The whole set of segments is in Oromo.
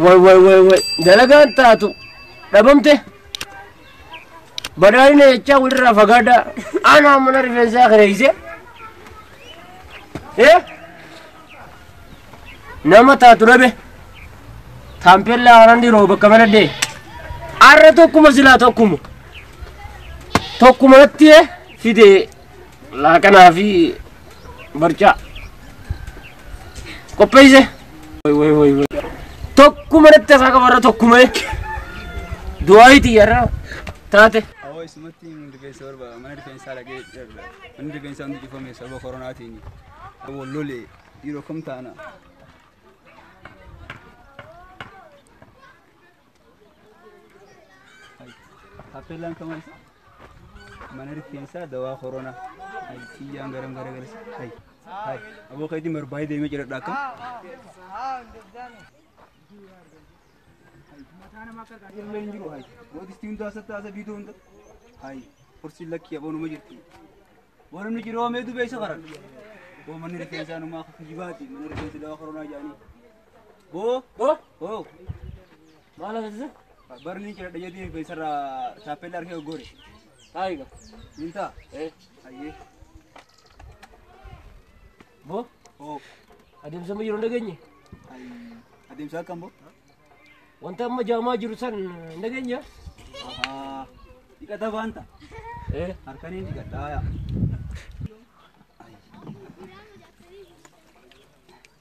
Way way way way dalagaan taatu dhabamte badhaadhina jechaa walirraa fagaadhaa aanaa mana rifeensaa kireeyse ee nama taatu dhabe taampellaa haaraan dhiroo bakka maladhee arra tokkuma silaa tokkuma tokkuma natti fide laaqanaa fi barcaa qopheesse Wai, wai, wai, wai. tokkuma natti asaa qabarra tokkuma du'aayiiti yarra taate Awoo isumatti hundi rifeensa barbaada. Mana rifeensaa dhaqee dheerudha. Manni rifeensaa hundi cufame sababa koronaatiin. wal lole dhiiroo kam taana. Tappeellaan kamaa isa mana rifeensaa dawaa koronaa. Hayi xiyyaan garam garagarsa. Hayi hayi aboo keetiin barbaadee deemee jedhadha akka. Mataa namaa akka argaa jirullee hin jiru hayi. Mootistii hundaa sattaasa biidoo hunda. Hayi horsiin lakkii aboonuma jirti. Warri nu jiroo mee dubeessa karan. Boo manni rifeensaa numaa akka kijibaati. Mana rifeensi dawaa koronaa jaanii. Boo Boo boo maal agarsiisa? barni jira dhayyadii rifeensarraa taappellaa argee goggore. Taayiga. Mintaa. Ee Ayyee. boo Boo. adeemsa amma jiru hin dhageenye. Ayi. Adeemsa akkam boo? Wanta amma jaamaa jiru san hin dhageenya. Ahaa. Dhiqata baanta. Eh, Harkaniin dhiqadhaa yaa.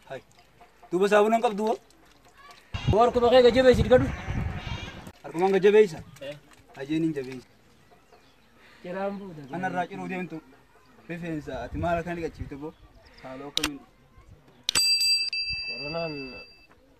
Hai. Duuba saabuna hin qabdu hoo? boo harkuma kee gajjabeessi dhikadhu. Harkumaan gad jabeessa. Eh. Ajeen hin jabeessa. Jiraan buuda. Kanarraa ciruu deemtu. Rifeensa ati maal akka dhiqachiifte boo? Haaloo akkamiin? Koronaan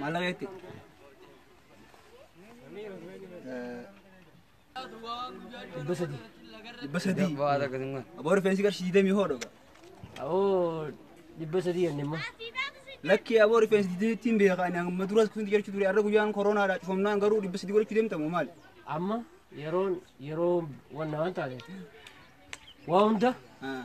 Malageti. Dhibba sadii. Dhibba sadii. Bu'aa takka singa. Aboo rifeensi qarshii digdamii hoo dhuga. Awoo dhibba sadii yanne immoo. Lakkii aboo rifeensi digdamiitti hin beekaa ani amma duras kusinti jechuu ture har'a guyyaan koronaadha cufamnaan garuu dhibba sadii godhachuu deemtamu maali? Amma yeroon yeroo wanna waan taateef waa hunda Ah.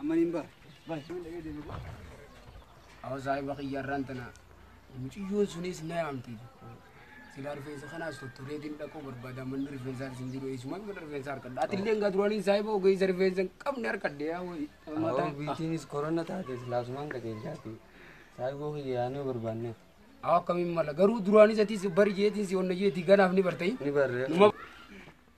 Amaniin baa. Awa saahiba kiyyarraan tana muciyyoon sunis na yaamti. Silaa rifeensa kanaas tottoree din dhaquu barbaada manni rifeensaa isin jiru eessumaan mana rifeensaa harkadha. Ati illee egaa duraanii saahiba ogeessa rifeensa hin qabne harkadhe yaa wayii. Awoo biitiinis korona taate silaasumaan qajeelchaati. Saayiboo kiyya yaanee barbaanne. Awa akkamiin mala garuu duraanis atis bari jeetiin si onna jeetii ganaaf ni bartee. Ni barree. Numa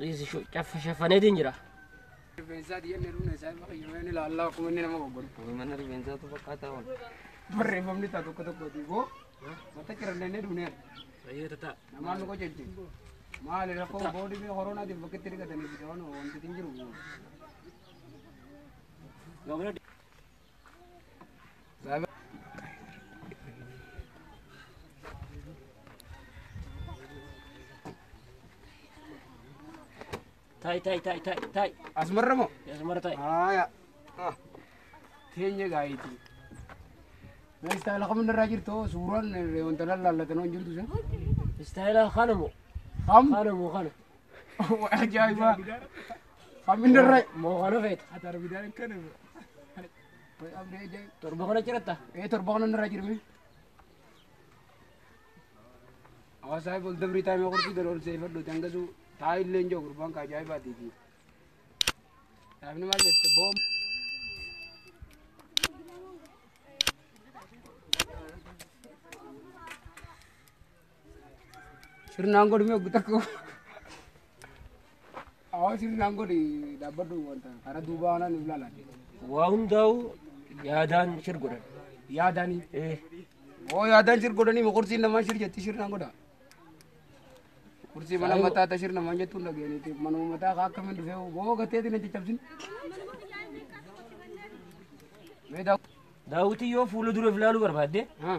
Dhiisi shu- caffa shaffaneetiin jira. Rifeensaa diyyannee dhumna isaa irra qayyamee ni ilaalla akkuma inni nama goggoru. Mana rifeensaatu fakkaataa waan. Barreeffamni isaa tokko tokko duuboo wanta cirannee dhumnee Baay'ee tataa. namaan nu qoccacce. Maali rakkoo boodii fi koronaatiin bakkeetti dhiqatanii fi waan wanti hin jiru. Gabaabina Taa'e taa'e taa'e taa'e taa'e. Asmarra moo? Asmarra taa'e. Haaya. Teenya gaayitii. Mee istaayila kamin irraa jirtu suuraan wanta lallaallatan hin jirtu sun. Istaayila kana moo? Kam? Kana moo kana? Ajaa'ibaa. Hamminni irra moo kana feeta. Ati arbidaan akkana. Torba kana jiratta. Ee torba kana irra jirmi. Hawaasaa bol dabrii taa'imee kurtii gad ol seefadhu dangasuu taa'illee hin jiru gurbaan kaa ajaa'ibaatiiti. Taa'imni maal jette boom. Sirnaan godhi mee gutakko. Awwa sirnaan godhi dhaabbadhu wanta karaa duubaa waan nuuf laalaan. Waa hundaa'u yaadaan shir godhan. Yaadaanii. Eh, Oo yaadaan shir godhanii ma kursiin namaa shir jetti sirnaan godha. Kursii mana Saayoo. mataa ta shir namaan jettuun dhageenyiti manuma mataa kaa akkamiin dhufee boo gateetiin hin caccabsin. Mee daawwa. Daawwitii yoo fuula dura ilaaluu barbaadde Haa.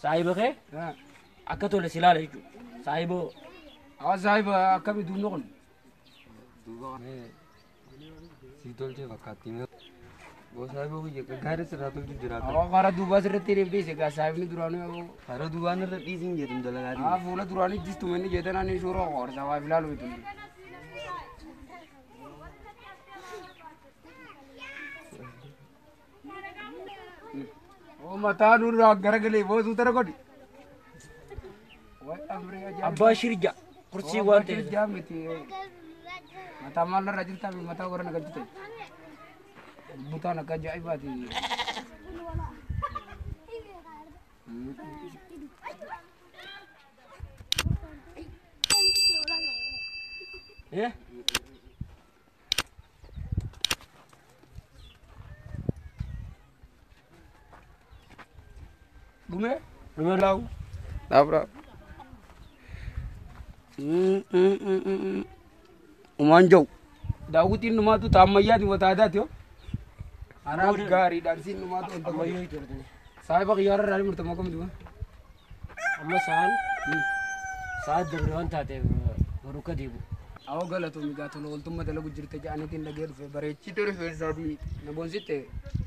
Saahiba kee akka tole si ilaala jechuudha. Saahiboo. Hawa saahiba akkami duubni kun? Duuba kana si tolchee fakkaatti. Boo saahiboo kiyya gaggaarii sirraa tolchu jira. Hawa karaa duubaa sirratti hiriif dhiise egaa saahibni duraanii hawa. Karaa duubaan irra dhiisiin jedhu dalagaa Haa fuula duraanii jistuma inni jeetan ani suuraa qoorsa waa filaalu bitu. Mataa nurraa gara galee boosuu tara godhi. Abbaa shirja kursii waan ta'eef. Jaa miti. Mataa maal irra jirtaa fi mataa warra nagaa jirtan. Butaan akka ajaa'ibaati. Eh? Dhume dhume laawu. Dhaabraa. Umaan jau. Daawwitiin dhumaatu ta ammayyaati wata aadaati yoo. Anaaf gaariidhaan siin dhumaatu wanta ammayyaa ijoollee. Saahiba xiyyaararraa ni murtama akkamitti kun? Amma sa'aan sa'aat dabre waan taateef barukka deebu. Awoo galatoomi gaa tola ooltumma dalagu jirta ja'anitiin dhagee dhufe bareechite rifeensaa fi na bonsitte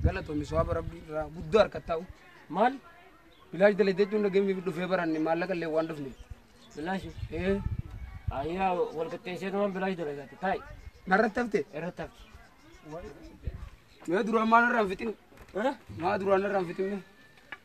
galatoomi soaba rabbii irraa guddoo harkattaa'u. Maal? Bilaash dalagde jechuun dhageenyeef dhufee baranne maallaqa illee waan dhufne. Bilaashi? Ee. Ayyaa wal qixxeessee waan bilaash dalagate taa'i. Narratti hafte? Irratti hafte. Mee duraan maal irraa hin fixin? Maa duraan irraa hin fixin?